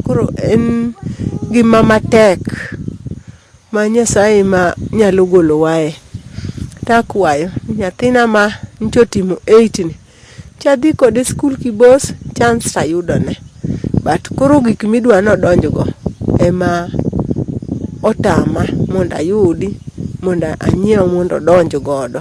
Koro en ngima matek ma Nyasaye ema nyalo golowae. To akwayo ni nyathina ma nyocha otimo eight ni to adhi kode sikul kibos chance to ayudone. But koro gik ma idwa ni odonj go ema otama mondo ayudi mondo anyiew mondo odonj godo.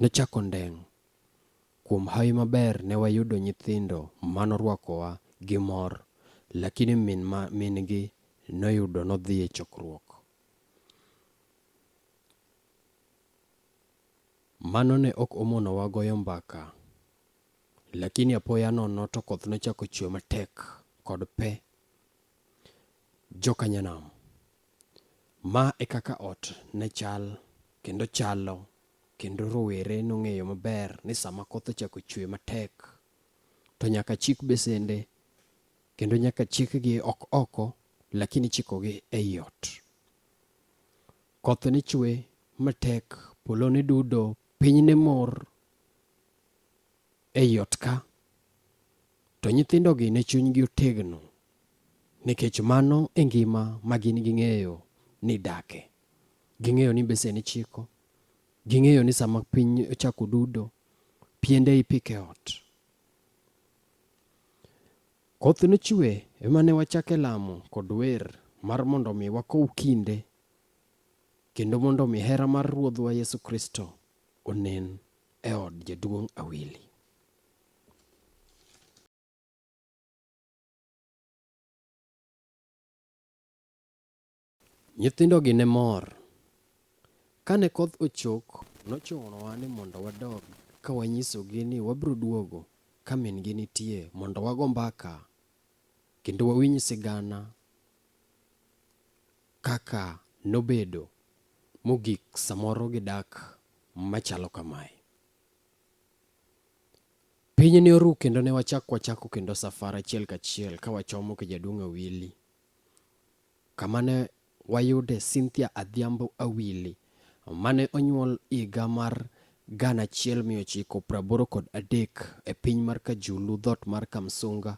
Nochako ndeng'. Kuom hawi maber ne wayudo nyithindo ma norwakowa gi mor, lakini min ma min gi noyudo nodhi e chokruok. Mano ne ok omonowa goyo mbaka, lakini apoya nono to koth nochako chwe matek kod pe. Joka Nyanam. Ma e kaka ot ne chal kendo chalo kendo rowere nong'eyo maber ni sama koth ochako chwe matek to nyaka chik besende kendo nyaka chikgi ok oko lakini chikogi ei ot. Koth ne chwe matek, polo ne dudo, piny ne mor ei ot ka. To nyithindogi ne chunygi otegno nikech mano e ngima ma gin ging'eyo ni dake. Ging'eyo ni besen ichiko, ging'eyo ni sama piny ochako dudo, piende ipiko e ot. Koth nochwe ema ne wachake lamo kod wer mar mondo mi wakow kinde kendo mondo mi hera mar Ruodhwa Yesu Kristo onen e od jaduong' Awili. Nyithindogi ne mor. Kane koth ochok, nochunowa ni mondo wadog ka wanyisogi ni wabiro duogo ka min-gi nitie mondo wago mbaka kendo wawinj sigana kaka nobedo mogik samoro gidak machalo kamae. Piny ne oru kendo ne wachak wachako kendo safar achiel kachiel ka wachomo Kijaduong' Awili kama ne wayude Cynthia Adhiambo Awili mane onyuol higa mar gana achiel mia ochiko praboro kod adek e piny mar Kajulu dhot mar Kamsunga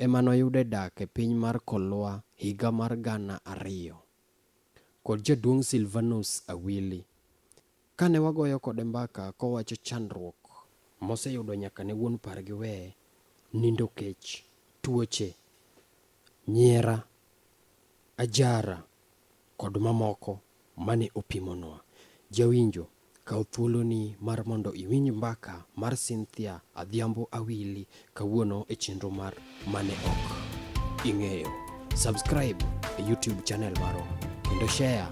ema noyude dak e piny mar Kolwa higa mar gana ariyo kod Jaduong' Silvanus Awili Kane wagoyo kode mbaka kowacho chandruok moseyudo nyaka ne wuon par giwe, nindo kech, tuoche, nyiera, ajara kod mamoko mane opimonwa. Jawinjo, kaw thuoloni mar mondo iwinj mbaka mar Cynthia Adhiambo Awili Kawuono e chenro mar mane ok ing'eyo. Subscribe e YouTube channel marwa kendo share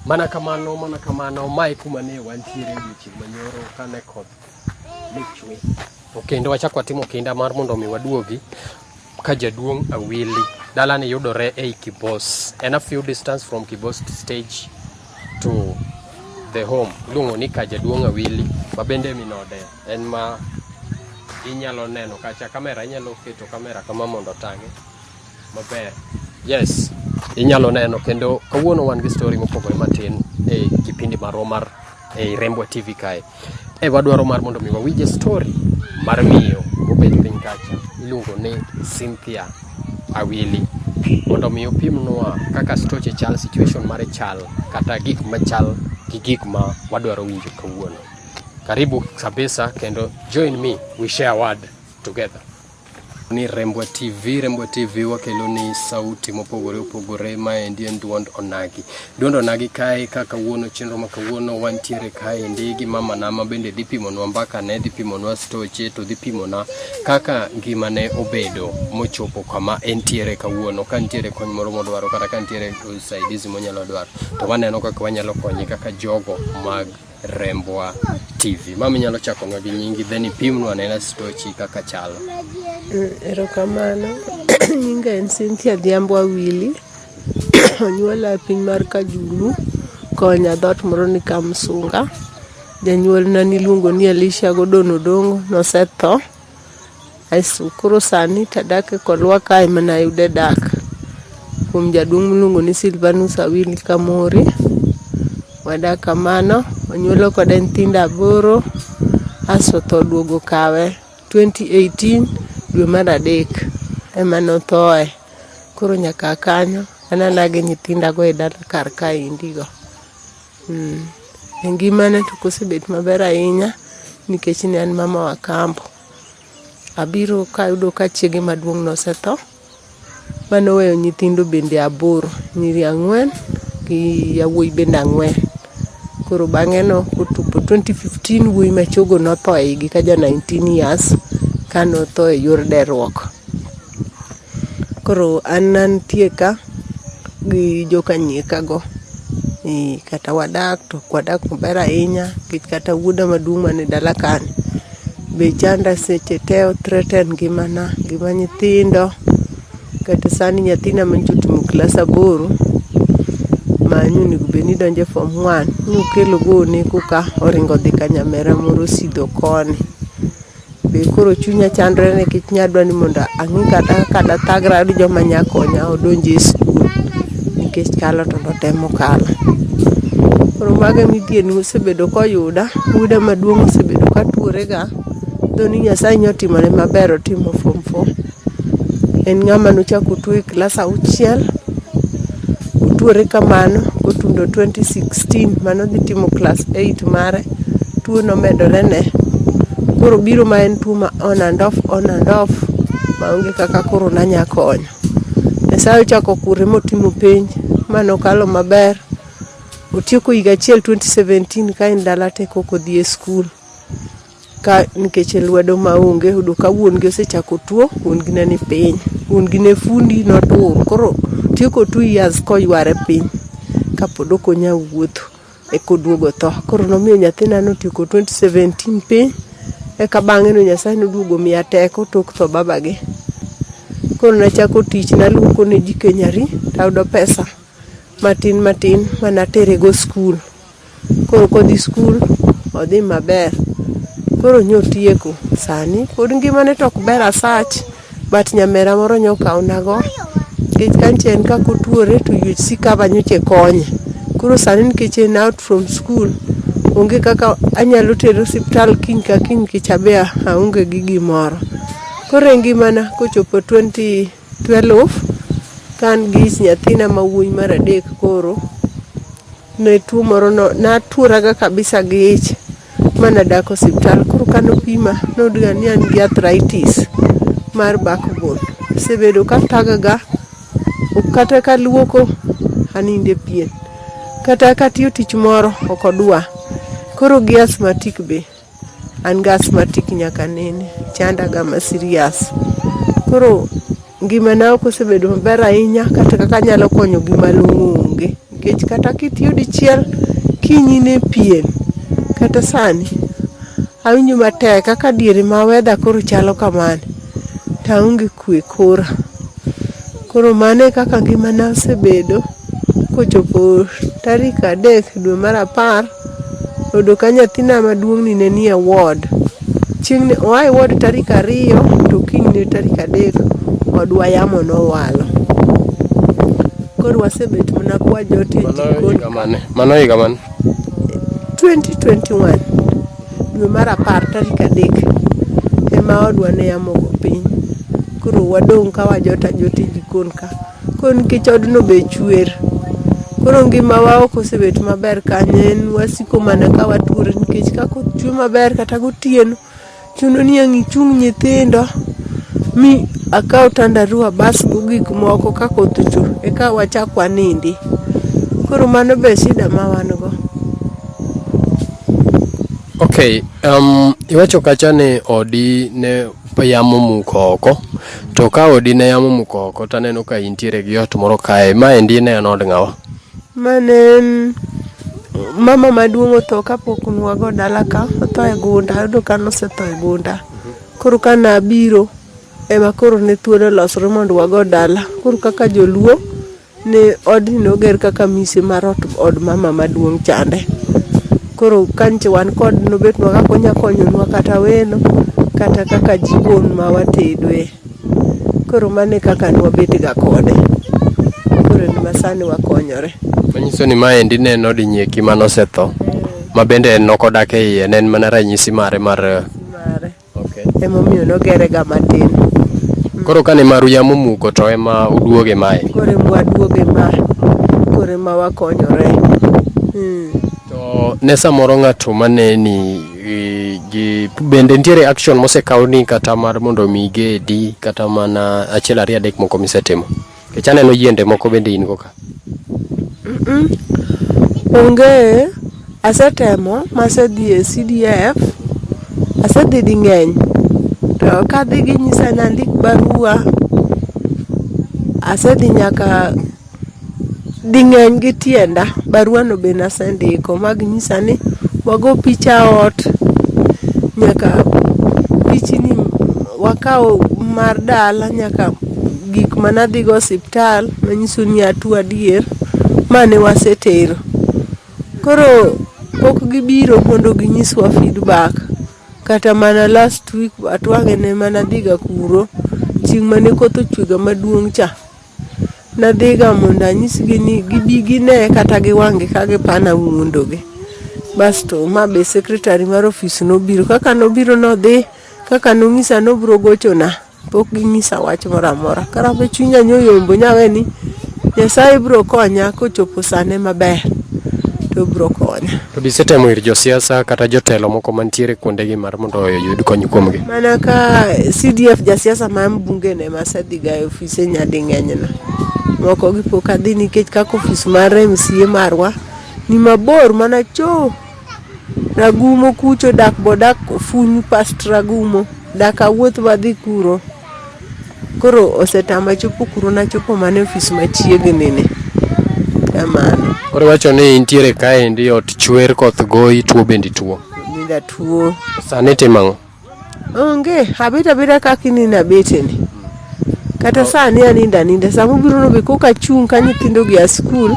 Mana kamano, mana kamano, mae kuma ne wantiere odiechieng' manyoro kane koth ne chwe. To kendo wachak watimo kinda mar mondo mi waduogi ka jaduong' Awili. Dalani yudore ei Kibos. En a few distance from Kibos stage to the home. Iluongo ni ka jaduong' Awili. Ma bende minode en ma inyalo neno kacha kamera inyalo keto kamera kama mondo otang'e. maber. Yes, inyalo neno kendo kawuono wan gi story mopogore matin e kipindi marwa mar e Rembwa TV kae. E wadwaro mar mondo mi wawinje story mar miyo mobet piny kacha iluongo ni Cynthia Awili mondo mi opimnwa kaka stoche chal, situation mare chal kata gik machal gi gik ma wadwaro winjo kawuono. Karibu kabisa kendo join me we share word together. ni Rembwa TV. Rembwa TV wakelo ni sauti mopogore opogore maendi en duond onagi. Duond onagi kae ka kawuono chenro ma kawuono wantiere kaendi gi mama na ma bende dhi pimonwa mbaka ne dhi pimonwa stoche to dhi pimona kaka ngima ne obedo mochopo kama entiere kawuono ka nitiere kony moro modwaro kata ka nitiere usaidizi monyalo dwaro to waneno kaka wanyalo konye kaka jogo mag Rembwa TV. Mama inyalo chako nwa gi nyingi then ipimnwa anena stochi kaka chalo. Mm, erokamano. Nyinga en Cynthia Dhiambo Awili. Onyuola e piny mar Kajulu konya dhot moro ni Kamsunga. Janyuolna niluongo ni Elisha Godon Odongo nosetho. Aeso koro sani tadak e kolwa kae mana ayude dak kuom jaduong' miluongo ni Silvanus Awili Kamori. Wadak kamano, onyuolo kode nyithindo aboro, aso tho duogo kawe 2018 dwe mar adek ema nothoe. Koro nyaka kanyo anana gi nyithindago e dala kar kaendi go. Mm. E ngimana to kosebet maber ahinya nikech ne an mama wa kambo. Abiro kayudo ka chiege maduong' nosetho mane oweyo nyithindo bende aboro, nyiri ang'wen gi yawuoyi bende ang'wen. Koro bang'e no kotupo 2015 wuoyi machogo notho e igi ka ja 19 years ka notho e yor deruok. Koro an nantie ka gi joka Nyeka go, ee kata wadak to ok wadak maber ahinya nikech kata wuoda maduong' man e dala ka ni be chanda seche te o threaten ngimana, ngima nyithindo. Kata sani nyathina ma nyocha otimo klas aboro ma ne onego bed ni donjo e form one, nokelo go oneko ka oringo odhi ka nyamera moro osidho koni. Be koro chunya chandore nikech nya dwa ni mondo ang'i kata kaka dathagra gi joma nya konya odonj e skul nikech kalo to notemo kalo. Koro mago e midhiero mosebedo koyuda, oyuda maduong' osebedo ka atuore ga, though ni Nyasaye nyotimone maber otimo form four. en ng'ama nochako tuo e klas auchiel otuore kamano kotundo 2016 mano dhi timo klas 8 mare tuo nomedore ne koro biro ma en tuo ma on and off on and off maonge kaka koro nanya konyo nyasaye ochako kure motimo penj manokalo maber otieko higa achiel 2017 ka en dala te koko dhi e skul ka nikech lwedo maonge yudo ka wuon gi osechako tuo wuon gi ne ni piny wuon gi ne fundi notur koro tieko two years koyware piny kapod ok onya wuotho eka oduogo tho koro nomiyo nyathina notieko 2017 piny eka bang'e no nyasaye noduogo miya teko tok tho babagi koro nachako tich naluoko ne ji kenyari tayudo pesa matin matin manaterego skul Koro kodhi skul, odhi maber. Koro nyotieko sani, pod ngimane tok ber asach, but nyamera moro nyokawnago. Nikech kancha en kakotuore to you see kaba nyocha e konye. Koro sani nikech en out from skul, onge kaka anyalo tere osiptal kiny ka kiny nikech abe aonge gi gimoro. Koro e ngimana kochopo twenty. Twelve ka an gi nyathina ma wuoyi mar adek koro ne tuo moro no natuoraga kabisa gi ich ma nadak osiptal. Koro kano pima noyud ga ni an gi arthritis mar back bone. Asebedo ka thaga ga ok kata kaluoko aninde pien, kata katiyo tich moro ok odwa. Koro gi asthmatic be. An gi asthmatic nyaka nene, chandaga ma serious. Koro ngimana ok osebedo maber ahinya kata kaka anyalo konyo gi malong'o onge. Nikech kata kitiyo dichiel, kiny in e piem. Kata sani, awinjo matek kaka diere ma weather koro chalo kamani, to aonge. kwe kora. Koro mano e kaka ngimana osebedo kochopo tarik adek dwe mar apar oyudo ka nyathina maduong'ni ne nie ward. Chieng' ne oa e ward tarik ariyo to kinyne tarik adek odwa yamo nowalo. Koro wasebet mana ka wajot e jikon ka. Mano higa mane? 2021. dwe mar apar tarik adek ema odwa ne yamogo piny koro wadong' ka wajot ajot e jikon ka koro nikech odno be chwer koro ngimawa ok osebet maber kanye en wasiko mana ka watuore nikech ka koth chwe maber kata gotieno chuno ni ang' ichung' nyithindo mi akaw tandaru abasgo gik moko ka koth ochwe eka wachak wanindi koro mano be shida ma wan go. Okay, um, iwacho kacha ni odi ne yamo muko oko to ka odi ne yamo muko oko to aneno ka intiere gi ot moro kae ma endi ne en od ng'awa mane en mama maduong' otho kapok nwago dala ka otho e gunda ayudo ka nosetho e gunda koro ka nabiro ema koro ne thuolo losre mondo wago dala koro kaka joluo Ne odni noger kaka mise mar ot od mama maduong' chande. Koro kanche wan kod nobetnwa kaka onya konyonwa kata welo kata kaka jikon ma watedoe. Koro mano e kaka nwabetga kode, koro en ma sani wakonyore. Manyiso ni maendi ne en od Nyeki manosetho, ma bende en nokodak e iye, ne en mana ranyisi mare mar Mare. emomiyo nogerega matin koro kane maru yamo muko to ema uduoge mae koro ema waduoge ma koro ema wakonyore hmm. to ne samoro ng'ato maneni e, gi bende nitiere action mosekaw ni kata mar mondo mi gedi kata mana achiel ariyo adek moko misetimo Kech aneno yiende moko bende in go ka. Onge, asetemo masedhi e CDF, asedhi di ng'eny. To kadhi ginyisa ni andik barua, asedhi nyaka di ng'eny gi tienda. Barua no be nasendiko ma ginyisa ni wago picha ot, nyaka pichni wakaw mar dala nyaka. gik mane adhi go osiptal manyiso ni atuo adier mane wasetero. Koro pok gibiro mondo ginyiswa feedback kata mana last week atwang'e ne mana adhiga kuro chieng' mane koth ochwe ga maduong' cha. Nadhiga mondo anyisgi ni gibi gine kata gi wang' gi ka gipana wuondo gi. Basto ma be secretary mar ofis nobiro. Kaka nobiro nodhi kaka nonyisa nobiro gochona. pok ginyisa wach moro amora karabe chunya nyoyombo nyawe ni nyasaye biro konya kochopo sane maber to biro konya To be isetemo ir josiasa kata jotelo moko mantiere kuondegi mar mondo oyud kony kuomgi. mana ka cdf jasiasa ma mbunge ne masedhiga e ofise nyading'enyna moko gi pok adhi nikech kaka ofis mar mca marwa ni mabor mana choo Ragumo kucho dak bodak funy past Ragumo dak awuoth wadhi kuro. Koro osetama chopo kuro nachopo mana e ofis machiegni ni. Kamano. Koro iwacho ni intiere kaendi ot chwer koth goyi tuo bende ituo. Nidatuo. Sani itimo ang'o? Onge, abet abeta kaka ineno abeteni. Kata oh. sani anindo aninda, sama ubiro nobe koka achung' ka nyithindogi a skul,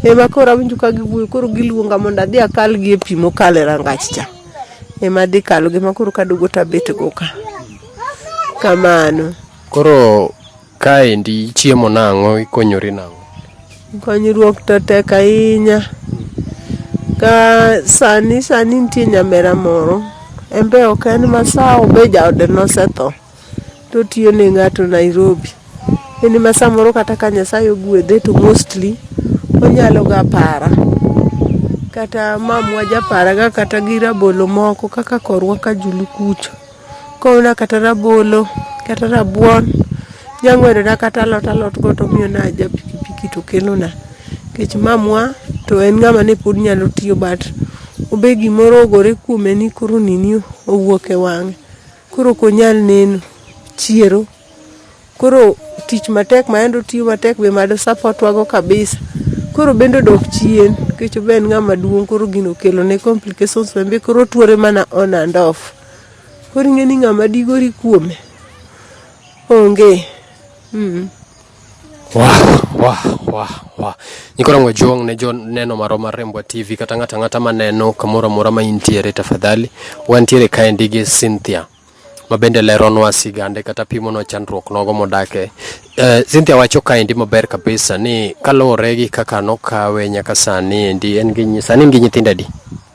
ema koro awinjo ka giwuoyo, koro giluonga mondo adhi akal gi e pi mokalo e rangach cha. Ema adhi kalo gi ema koro kaduogo to abet go ka. Kamano. Koro Kaendi ichiemo nang'o, ikonyori nang'o? Konyruok to tek ahinya. Ka sani sani nitie nyamera moro, en be ok en masawa be jaode nosetho to otiyo ne ng'ato Nairobi. En ma samoro kata ka Nyasaye ogwedhe to mostly onyalo ga para. Kata mamwa japaraga kata gi rabolo moko kaka korwa Kajulu kucho. Koona kata rabolo, kata rabuon, nyang'wedona kata alot alot go tomiyona ja pikipiki to kelona. Kech mamwa to en ng'ama ne pod nyalo tiyo but obe gimoro ogore kuome ni koro nini owuok e wang'e. Koro okonyal neno, chiero. Koro tich matek ma yande otiyo matek be mado support wa go kabisa. Koro obende odok chien, kech obe en ng'ama duong' koro gino okelone complications embe koro otuore mana on and off. Koro ing'e ni ng'ama digori kuome onge. Mm. Wah, wah, wah, wah. Nikora ngojong ne jo neno maro mar Rembwa TV kata ng'ata ng'ata maneno kamoro amora ma intiere tafadhali wantiere kaendi gi Cynthia ma bende leronwa sigande kata pimonwa chandruok nogo modake Uh, Cynthia wacho kaendi maber kabisa ni kaluwore gi kaka nokawe nyaka sani endi en gi sani en gi nyithindo adi?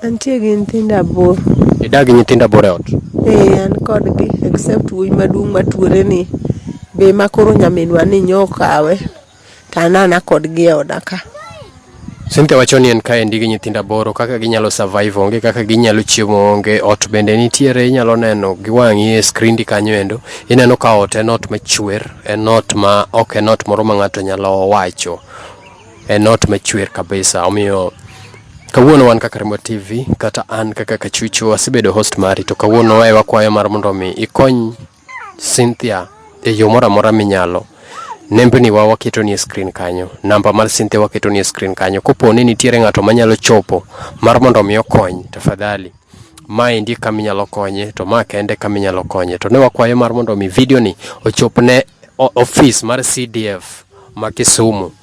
Antie gi nyithindo aboro. Idak gi nyithindo aboro e ot? Ee, an kodgi except wuoyi maduong' matuore ni be makoro nyaminwa ni nyokawe to anana kodgi e oda ka. Cynthia wacho ni en kaendi gi nyithindo aboro kaka ginyalo survive onge kaka ginyalo chiemo onge ot bende nitiere inyalo neno gi wang'i e screen kanyo endo ineno ka ot en ot machwer en ot ma ok en ot moro ma ng'ato nyalo wacho en ot machwer kabisa omiyo kawuono wan kaka Rembo TV kata an kaka Kachuchu asebedo host mari to kawuono wae wakwayo mar mondo mi ikony Cynthia e yo moro amora minyalo. Nembni wa waketo ni e screen kanyo. Namba mar Cynthia waketo ni e screen kanyo. Kopo ni nitiere ng'ato manyalo chopo mar mondo mi okony, tafadhali ma endi kama inyalo konye to ma kende kama inyalo konye to ne wakwayo mar mondo mi video ni ochop ne office mar CDF ma Kisumu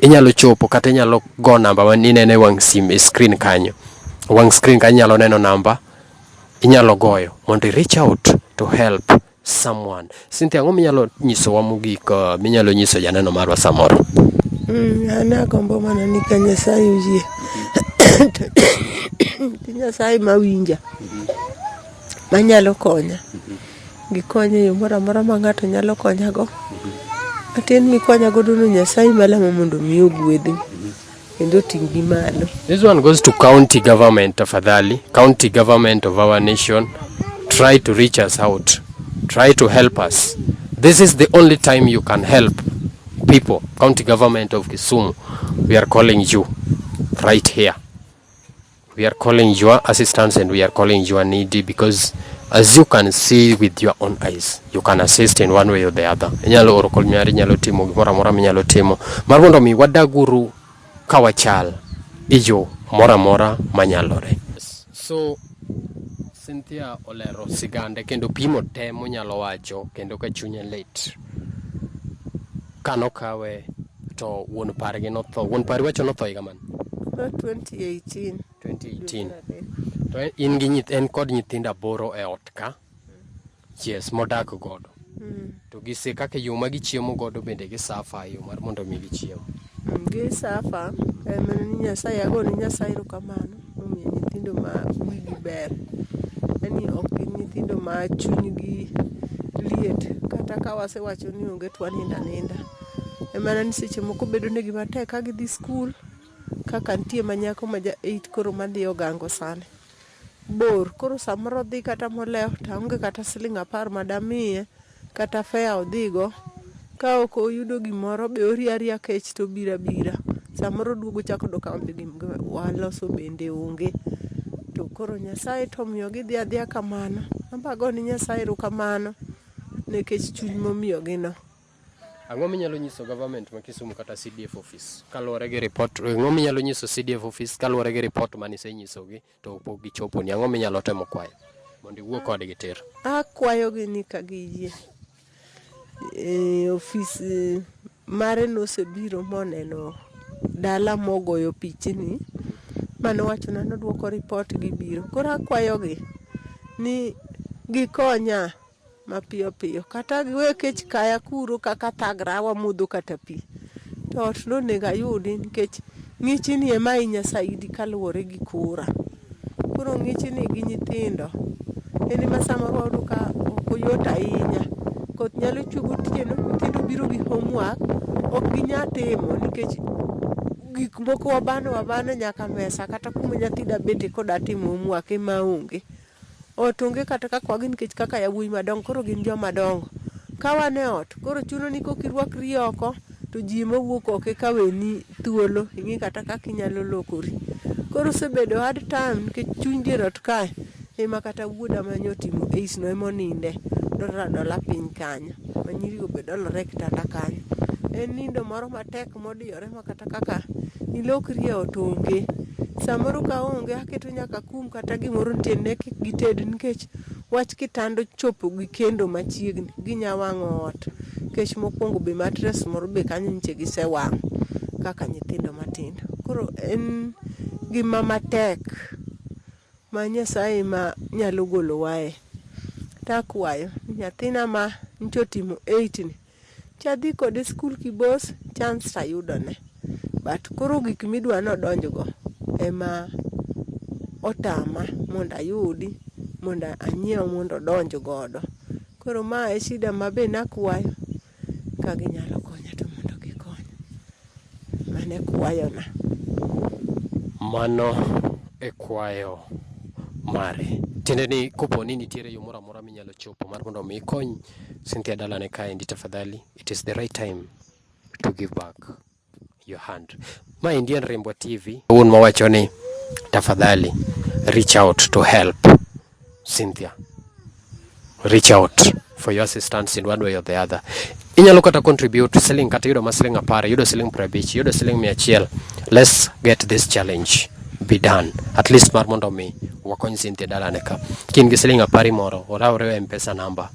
inyalo chopo kata inyalo go namba ma inene wang' sim e screen kanyo. Wang' screen kanyo inyalo neno namba inyalo goyo mondo i reach out to help someone. Cynthia, ang'o minyalo nyisowa mogik uh, minyalo nyiso janeno marwa samoro? Mm, an agombo mana ni ka Nyasaye oyie Nyasaye mawinja manyalo konya Gikony e yo moro amora ma ng'ato nyalo konyago. Matin mikwayo godo ni Nyasaye malamo mondo mi ogwedhi kendo oting'gi malo. This one goes to county government tafadhali. County government of our nation try to reach us out. Try to help us. This is the only time you can help people. County government of Kisumu, we are calling you right here. we are calling your assistance and we are calling your needy because as you can see with your own eyes you can assist in one way or the other inyalo oro kol nyari inyalo timo gimoro amora minyalo timo mar mondo mi wadaguru ka wachal ijo moro amora manyalore so Cynthia olero sigande kendo pimo te monyalo wacho kendo ka chunye lit kano kawe To wuon pargi notho. Wuon pari wacho notho higa mane? Tho 2018. 2018. To en- in gi nyith en kod nyithindo aboro e ot ka. Yes, modak godo. Mm. To gise kaka yo ma gichiemo godo bende gisafa yo mar mondo mi gichiem. Mm, Gi safa, em, ni Nyasaye, agone Nyasaye erokamano. momiyo nyithindo ma wigi ber en ni ok gin nyithindo ma chunygi liet kata ka wasewacho ni onge to wanindo aninda. En mana ni seche moko bedonegi matek ka gidhi skul kaka nitie ma nyako ma ja eight koro madhi ogango sani bor koro samoro odhi kata molewo to aonge kata siling' apar ma damiye kata fare odhigo ka ok oyudo gimoro be orie aria kech to obiro abira. Samoro oduogo ochako odok ka onge gima waloso bende onge. To koro Nyasaye to omiyo gidhi adhiya kamano. Anbe ago ne Nyasaye erokamano nekech chuny momiyogi no. Ang'o minyalo nyiso government ma Kisumu kata CDF office kaluwore gi report ang'o minyalo nyiso CDF office kaluwore gi report mane isenyisogi? To pok gichoponi, ang'o minyalo temo kwayo mondo iwuo kodgi tir? Akwayogi ni ka giyie e, ofis e, mare nosebiro moneno dala mogoyo pichni mane owachona nodwoko ripot gibiro. Koro akwayogi ni gikonya mapiyo piyo kata we kech kaya kuro kaka thagra wamodho kata pi to ot nonego ayudi nikech ng'ichni ema ahinya saidi kaluwore gi kora. Koro ng'ichni gi nyithindo en ema samoro wayudo ka ok oyot ahinya. Koth nyalo chwe gotieno, nyithindo obiro gi homework ok ginyal timo nikech gik moko wabano abana nyaka mesa kata kuma nyathi da bete koda timo homework ema onge. Ot onge kata kaka wagi nikech kaka yawuoyi madongo koro gin joma dongo. Ka wan e ot koro chuno ni koka irwakri oko to ji ema wuok oko eka weni thuolo ing'e kata kaka inyalo lokori. Koro osebedo hard time nikech chuny dier ot kae ema kata wuoda ma nyocha otimo eights no ema oninde. Odolore adola piny kanyo. Ma nyirigo be dolore e kitanda kanyo. En nindo moro matek modiyore ma Jehova kata kaka nilokri e ot onge. Samoro ka onge aketo nyaka kum kata gimoro nitie ne kik gited nikech wach kitanda chopo gi kendo machiegni ginya wang'o ot. Nikech mokwongo be matres moro be kanyo nyiche gisewang'o kaka nyithindo matindo. Koro en gima matek ma Nyasaye ema nyalo golowae. Takwayo ni nyathina ma nyicha otimo eight ni. Chadhi kode skul kibos chance to ayudone but koro gik midwa ni odonjgo ema otama mondo ayudi mondo anyiew mondo odonj godo. Koro ma e shida ma be nakwayo ka ginyalo konya to mondo gikonya. Mano e kwayona. Mano e kwayo mare. Tiende ni kopo ni nitiere yo moro amora minyalo chopo mar mondo mi ikony Cynthia dalane kaendi tafadhali, it is the right time to give back your hand. Ma endi en Rimbwa TV, wuon mawacho ni tafadhali reach out to help. Cynthia reach out for your assistance in one way or the other. Inyalo kata contribute siling kata yudo ma siling apar, yudo siling prabich, yudo siling mia achiel. Let's get this challenge be done. At least mar mondo mi wakony Cynthia dalane ka. Kin gi siling apar moro, oraure e mpesa namba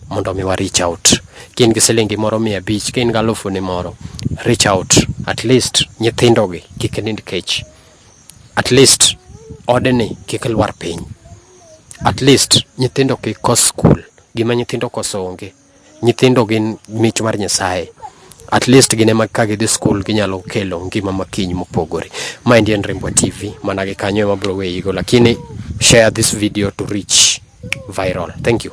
mondo mi wa reach out. Kin gi siling moro mia abich, kin gi alufu ni moro, reach out. At least nyithindo gi kik nind kech. at least odni kik lwar piny, at least nyithindo kik kos skul, gima nyithindo koso onge. Nyithindo gin mich mar Nyasaye, at least gin ema ka gidhi skul ginyalo kelo ngima ma kiny mopogore. Ma endi en Rimbwa TV, mana gi kanyo ema abiro weyigo lakini share this video to reach viral. Thank you.